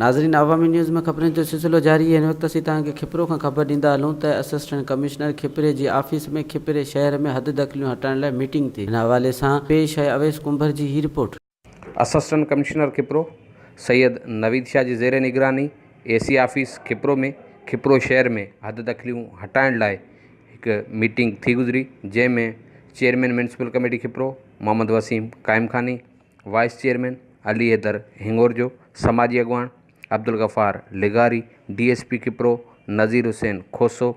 ناظرين عوامي نيوز ۾ خبرن جو سلسلو جاري هن وقت اسين توهان کي کپرو کان خبر ڏيندا هلون ته اسسٽنٽ ڪمشنر کپري جي آفيس ۾ کپري شهر ۾ حد دخليون هٽائڻ لاء ميٽنگ ٿي ان حوالي سان پيش آهي اويس ڪنڀر جي هي report. Assistant commissioner Khipro Syed Naveed Shah جي زير نگراني A C office Khipro ۾ Khipro شهر ۾ حد دخليون هٽائڻ لاء هڪ ميٽنگ ٿي گذري جنهن ۾ chairman municipal committee Khipro Muhammad Waseem Qaim Khani vice chairman Ali Haider Hingorjo سماجي اڳواڻ عبدالغفار لغاري D S P Khipro Nazir Hussain Khoso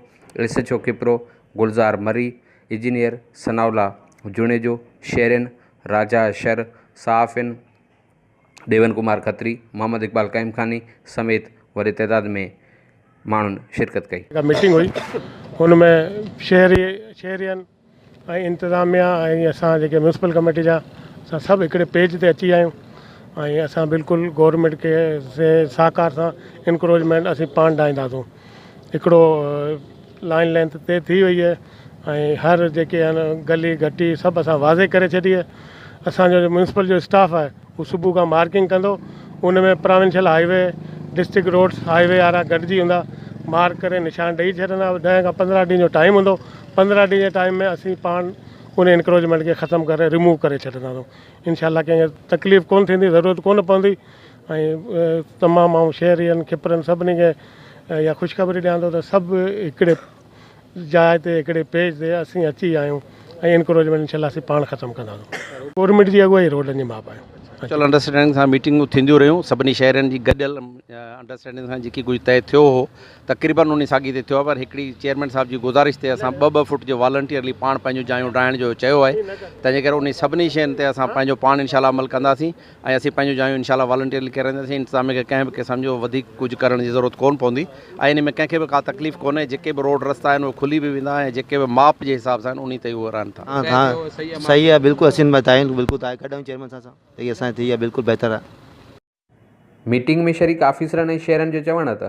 S H O Khipro Gulzar Marri engineer Sanaullah Junejo شهرين راجا شر، صحافين ڏيون ڪمار کتري، محمد اقبال قائمخاني سميت وڏي تعداد ۾ ماڻهن شرڪت ڪئي. جيڪا ميٽنگ هئي ان ۾ شهري شهرين ۽ انتظاميا ۽ اسان جيڪي ميونسپل ڪميٽي جا اسان سڀ هڪڙي پيج تي اچي ويا آهيون ۽ اسان بلڪل گورنمينٽ کي سهڪار سان انڪروجمينٽ اسين پاڻ ڊاهينداسون هڪڙو لائين لينٿ طئي ٿي وئي آهي ۽ هر جيڪي آهن گلي گهٽي سڀ اسان واضح ڪري ڇڏي آهي اسان جو ميونسپل جو اسٽاف آهي هو صبح کان مارڪنگ ڪندو ان ۾ provincial highway district roads highway وارا گڏجي هوندا مارڪ ڪري نشان ڏئي ڇڏندا ڏهه کان پندرهن ڏينهن جو ٽائيم هوندو پندرهن ڏينهن جي ٽائيم ۾ اسين پاڻ ان انڪروچمينٽ کي ختم ڪري ريموو ڪري ڇڏنداسون انشاء الله ڪنهن کي تڪليف ڪونه ٿيندي ضرورت ڪونه پوندي ۽ تمام آئون شهرين کپرن سڀني کي اها خوشخبري ڏيان ٿو ته سڀ هڪڙي جاء تي هڪڙي پيج تي اسين اچي ويا آهيون ۽ انڪروچمينٽ انشاء الله اسين پاڻ ختم ڪنداسون گورنمينٽ جي اڳواهي روڊن جي ماپ آهي. ميوچل انڊرسٽينڊنگ سان ميٽنگون ٿينديون رهيون سڀني شهرين جي گڏيل انڊرسٽينڊنگ سان جيڪي ڪجهه طئي ٿيو هو تقريبن انهي ساڳي تي ٿيو آهي پر هڪڙي چيئرمين صاحب جي گذارش تي اسان ٻه ٻه فٽ جو والنٽيئرلي پاڻ پنهنجون جايون ڊاهڻ جو چيو آهي تنهنجي ڪري انهي سڀني شين تي اسان پنهنجو پاڻ انشاء الله عمل ڪنداسين ۽ اسين پنهنجون جايون انشاء الله والنٽيئرلي ڪيرائينداسين، انتظاميه کي ڪنهن به قسم جو وڌيڪ ڪجهه ڪرڻ جي ضرورت ڪونه پوندي ۽ ان ۾ ڪنهن کي به ڪا تڪليف ڪونهي، جيڪي به روڊ رستا آهن اهي کلي به ويندا ۽ جيڪي به ماپ جي حساب سان آهن انهي تي اهي رهن ٿا. ها ها صحيح آ بلڪل اسين ۾ تعين بلڪل تاء ڪڍ آهيون چيئرمين صاحب سان اهي اسان جي ٿي آ بلڪل بهتر آ. ميٽنگ ۾ شريڪ آفيسرن ۽ شهرين جو چوڻ هو ته